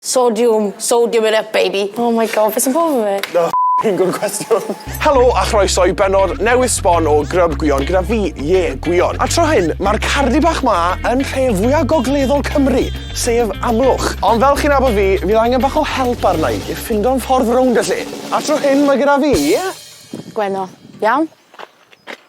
Sodiwm, sodium it up baby. Oh my God, be sy'n bod efo fi? Na fi'n gwrdd cwestiwn. Helo a chroeso i benod newydd sbon o Grub Gwion gyda fi, Ie, Gwion. A tro hyn, mae'r cardi bach ma yn rhe fwyaf gogleddol Cymru, sef Amlwch. Ond fel chi'n abod fi, fydd angen bach o help arna i i ffindo'n ffordd rownd y lle. A tro hyn mae gyda fi... Gwenno. Iawn?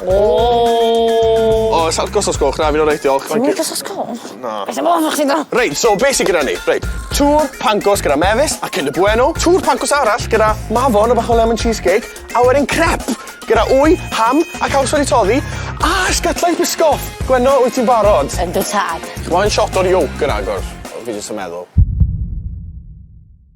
Ooh! O, sa'r gosod sgwch, na, fi'n o'r reit, diolch. Ti'n mynd gosod sgwch? Na. Beth am ofn o'ch ti'n do? Reit, so, beth sy'n gyda ni? Reit, tŵr pancos gyda mefus a cynda bueno, tŵr pancos arall gyda mafon a bach o lemon cheesecake, a wedyn crep gyda wy, ham a caws wedi toddi, a sgytlau bisgoff. Gwenno, wyt ti'n barod? Yndw tad. Chwa'n shot o'r yolk yn agor, fi jyst yn meddwl.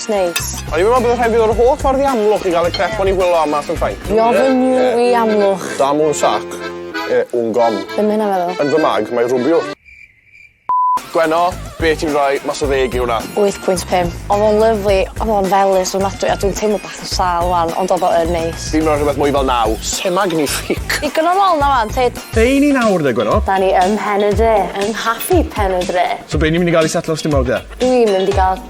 It's neis. O'n i'n meddwl bod rhaid fi ddod yr holl ffordd i Amlwch i gael y crêp o'n i wylio am mas yn Ffrainc. Bienvenue i Amlwch. Dame un sac et un gomme. Be ma' hynna'n feddwl? Yn fy mag, mae rwbiwr. Gwenno, be' ti'n rhoi mas o ddeg i hwnna? Wyth pwynt pump. Odd o'n lyfli, odd o'n felys ofnadwy a dwi'n teimlo bach yn sâl ŵan ond odd o yn neis. Fi'n rhoi rhywbeth mwy fel naw. C'est magnifique! Digon o lol 'na ŵan, Tyd. Be' i ni nawr de, Gwenno? Da ni ym Mhen-y-dre, yng nghafi Pen-y-dre. So be' ni mynd i ga'l i setlo stumog de? Dwi'n mynd i ga'l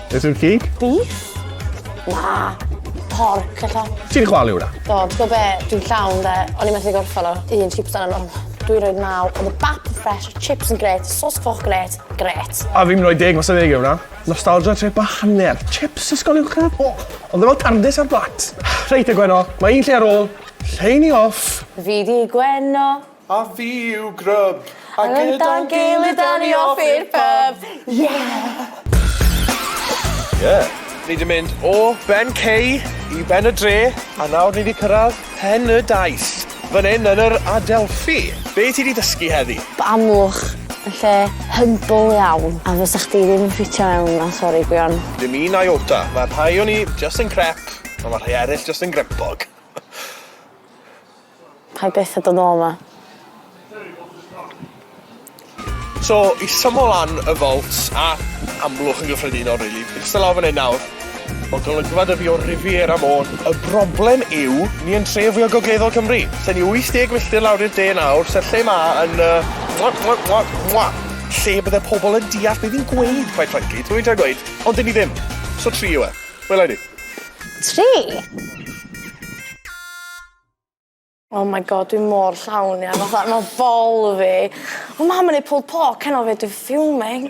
Beth yw'r cig? Beef? Na, porc ella. Ti'n chwalu hwnna? Do, ti'n gwybod be? Dwi'n llawn de. O'n i'n methu gorffan o. Un chips dan yno. Dwi'n rhoi naw. Oedd y bap yn ffres, y chips yn gret, sos coch gret. Gret. A fi'n rhoi deg, mae'n deg hwnna. Nostalgia trip a hanner. Chips ysgol yw'r crap. O, ond ddim ond tardis ar blat. Reit, y Gwenno. Mae un lle ar ôl. Lleini off. Fi di Gwenno. A fi yw Grub. A gyda'n gilydd da ni off i'r pub. Yeah! Yeah! Ni 'di mynd o Ben Cei i Ben y Dre, a nawr ni 'di cyrradd Pen y Daith, fan 'yn yn yr Adelphi. Be' ti 'di dysgu heddi? Bod Amlwch yn lle humble iawn, a fysa chdi ddim yn ffitio mewn 'na, sori gwion. Dim un iota. Mae rhai o ni jyst yn crep, a ma' rhai eryll jyst yn grempog. Paid byth a dod nôl 'ma. So isa mo lan y vaults a Amlwch yn gyffredinol rili. Fi'n ista lawr fan 'yn nawr. Ma' golygfa 'da fi o'r Riviera Môn. Y broblem yw ni yn tre fwya gogleddol Cymru. Lle ni 80 milltir lawr i'r de nawr se'r lle 'ma yn yy mwa mwa mwa mwa lle bydde pobol yn deall be' fi'n gweud quite frankly t'mo' fi'n trio gweud? Ond 'dyn ni ddim. So tri yw e. Wele ni. Tri? Oh my God dwi mor llawn ia fatha ma' bol fi. Ma' mam yn neud pulled pork heno 'fyd dwi'n fuming.